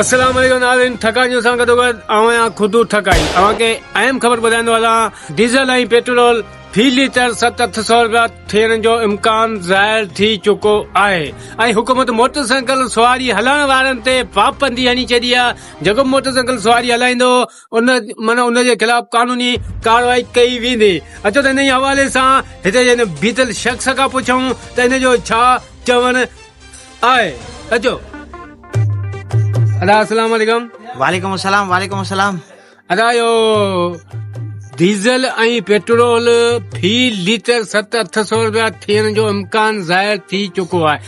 السلام عليڪم ناظرين ٺڪا نيوز سان گڏو گڏ آئون آهيان خدو ٺڪائي اوهان کي اهم خبر ٻڌائيندو هلان ڊيزل ۽ پيٽرول في ليٽر ست اٺ سو روپيا ٿيڻ جو امڪان ظاهر ٿي چڪو آهي ۽ حڪومت موٽر سائيڪل سواري هلائڻ وارن تي پابندي هڻي ڇڏي آهي جيڪو موٽر سائيڪل سواري هلائيندو انهن جي خلاف قانوني ڪارروائي ڪئي ويندي اچو ته ان حوالي سان هتي جن بيتل شخص کان پڇون ته ان جو ڇا چوڻ آهي اچو ادا السلام عليڪم وعليڪم السلام وعليڪم السلام ادا جو ڊيزل ۽ پيٽرول في ليٽر ست اٺ سو روپيا ٿيڻ جو امڪان ظاهر ٿي چڪو آهي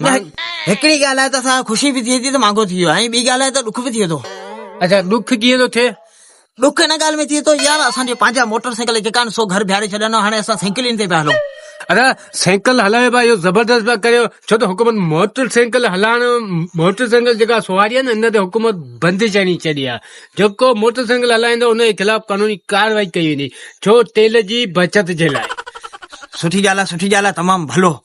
هڪڙي ڳالهه آهي ته اسان کي خوشي به ٿئي ٿي ته مانگو ٿي ويو آهي ۽ ٻي ڳالهه آهي ته ڏک به ٿئي ٿو اچا ڏک ڪيئن ٿو ٿئي ڏک ان ڳالهه ۾ ٿئي ٿو يار اسان جي پنهنجا موٽر سائيڪل جيڪا آهن سو گهر بيهاري ڇڏيا هاڻي اسان سائيڪلين تي پيا هلون ادا سائيڪل هلائي پيا اهو زبردست پيا ڪريو ڇو ته حڪومت موٽر سائيڪل هلائڻ موٽر سائيڪل جيڪا سواري آهي نه ان تي حڪومت بندش آڻي ڇڏي آهي جيڪو موٽر سائيڪل هلائيندو ان جي خلاف قانوني ڪارروائي ڪئي ويندي ڇو تيل جي بچت جي لاء سٺي ڳالهه آهي سٺي ڳالهه آهي تمام ڀلو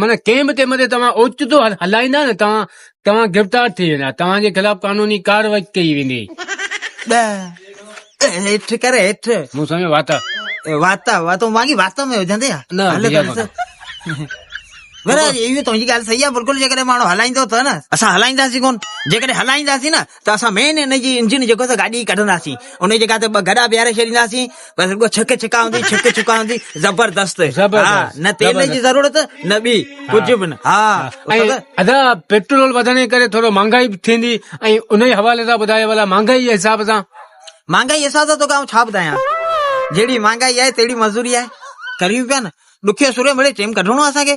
معنيٰ ڪنهن به قيمت تي توهان اوچتو هلائيندا نه توهان توهان گرفتار ٿي ويندا توهان جي خلاف قانوني ڪارروائي ڪئي ويندي. ڏهه هيٺ ڪر هيٺ. مون سمجهيو واتا. واتا واتا تون واڳي واتا ۾ هجندي ها. نه ڀيا. اهو تنهنجي ڳالهه صحيح آهي بلڪل جيڪڏهن ماڻهو هلائيندو ته نه اسان هلائينداسين ڪون جيڪڏهن هلائينداسين نه ته اسان مين ان جي انجن جيڪو سا گاڏي ڪڍنداسين ان جي جڳهه تي ٻه گڏا بيهاري ڇڏينداسين بس رڳو ڇڪ ڇڪا هوندي ڇڪ ڇڪا هوندي زبردست ها نه تيل جي ضرورت نه ٻي ڪجهه به نه ها ادا پيٽرول وڌڻ جي ڪري ٿورو مهانگائي به ٿيندي ۽ ان جي حوالي سان ٻڌايو ولا مهانگائي جي حساب سان مهانگائي جي حساب سان توکي آئون ڇا ٻڌايان جهڙي مهانگائي آهي تهڙي مزوري آهي ڪريون پيا نه ڏکيو سوريو مڙي ٽيم ڪڍڻو آهي اسان کي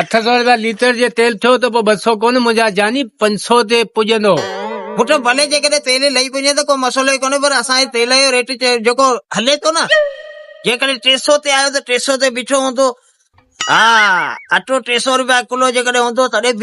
اٺ سؤ رپيا ليٽر جي تيل ٿيو ته پوء ٻه سؤ ڪونه منهنجا جاني پنج سؤ تي پڄندو. پٽ ڀلي جيڪڏهن تيل لهي پڄي ته ڪو مسئلو ئي ڪونهي پر اسان جي تيل جو ريٽ جيڪو هلي ٿو نه جيڪڏهن ٽي سؤ تي آيو ته ٽي سؤ تي بيٺو هوندو ها اٽو ٽي سؤ رپيا ڪلو جيڪڏهن هوندو تڏهن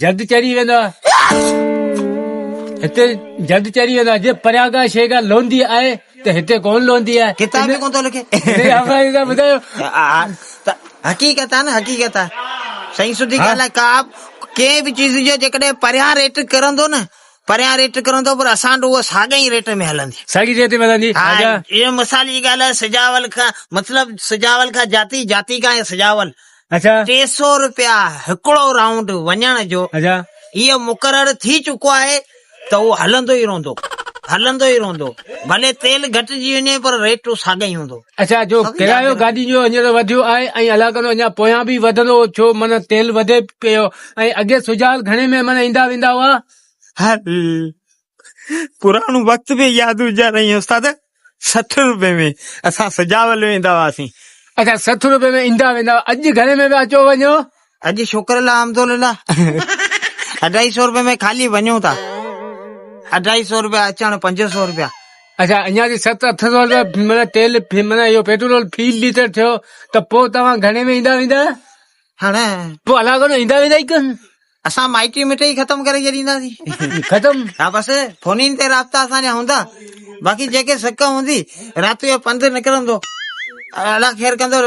جد چري ويندا هتي جد چري ويندا جي پرياگا شيگا لوندي آهي ته هتي ڪون لوندي آهي ڪتاب ۾ ڪون ٿو لکي ٻڌايو حقيقت آهي نه حقيقت آهي سائين سڌي ڳالهه آهي ڪاب ڪنهن به چيز جو جيڪڏهن پريان ريٽ ڪرندو نه پريان ريٽ ڪرندو پر اسان ڏو اها ساڳي ئي ريٽ ۾ هلندي ساڳي ريٽ ۾ هلندي ها اها مثال جي ڳالهه آهي سجاول کان مطلب سجاول کان جاتي جاتي کان سجاول ٽي سؤ رپيا هڪڙو رائونڊ وڃڻ جو اهو مقرر ٿي چڪو آهي ته اهو هلندو ئي رهندو هلندو ئي رهندو ڀلي تيل گهٽجي وڃي پر ريٽ ساڳئي ئي هوندو. اچا جو ڪرايو گاڏين جو هينئر وڌيو آهي ۽ الله ڪندو اڃا پويان به وڌندو ڇو من تيل وڌي پيو ۽ اڳي سجال گهڻي ۾ من ايندا ويندا هئا. هل پراڻو وقت به ياد هجيا رئي استاد سٺ روپي ۾ اسان سجاول ويندا هئاسين اچا سٺ روپي ۾ ايندا ويندا هئا اڄ گهڻي ۾ پيا اچو وڃو. اڄ شڪر الله حمد لله اڍائي سئو روپي ۾ خالي وڃون ٿا اڍائي سئو روپيا اچڻ پنج سئو روپيا. اچا اڃا جي ست اٺ سئو روپيا معنيٰ تيل معنيٰ اهو پيٽرول في ليٽر ٿيو ته پوء توهان گهڻي ۾ ايندا ويندا هاڻ پوء الاڳو نه ايندا ويندا ئي ڪن. اسان مائٽي مٺئي ختم ڪري ڇڏينداسين. ختم؟ ها بس فونين تي رابطا اسان جا هوندا باقي جيڪي سڪ هوندي رات جو پنڌ نڪرندو الله خير ڪندو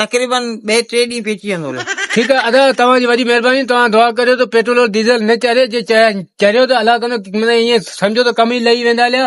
تقريبن ٻئي ٽي ڏينهن پيچي ويندو الله. ٺيڪ آ ادا توهان جي وڏي مهرباني توهان دعا ڪريو ته پيٽرول ڊيزل نه چري جي چريو ته الله ڪندو مطلب ائين سمجهو ته ڪم ئي لهي ويندا اليا.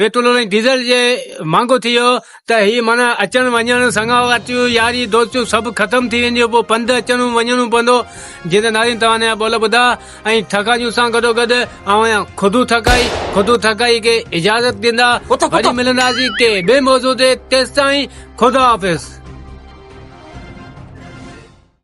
پيٽرول ۽ ڊيزل جي مھانگو ٿي ويو ته ھي معنيٰ اچڻ وڃڻ سڱاواتيون ياري دوستيون سڀ ختم ٿي وينديون پوء پنڌ اچڻو وڃڻو پوندو جيئن ته نارين توھان جا ٻول ٻڌا ۽ ٿڪاڄون سان گڏوگڏ اوھان خودو ٿڪائي خودو ٿڪائي کي اجازت ڏيندا وري ملنداسين ڪي ٻي موضوع تي تيستائين خدا حافظ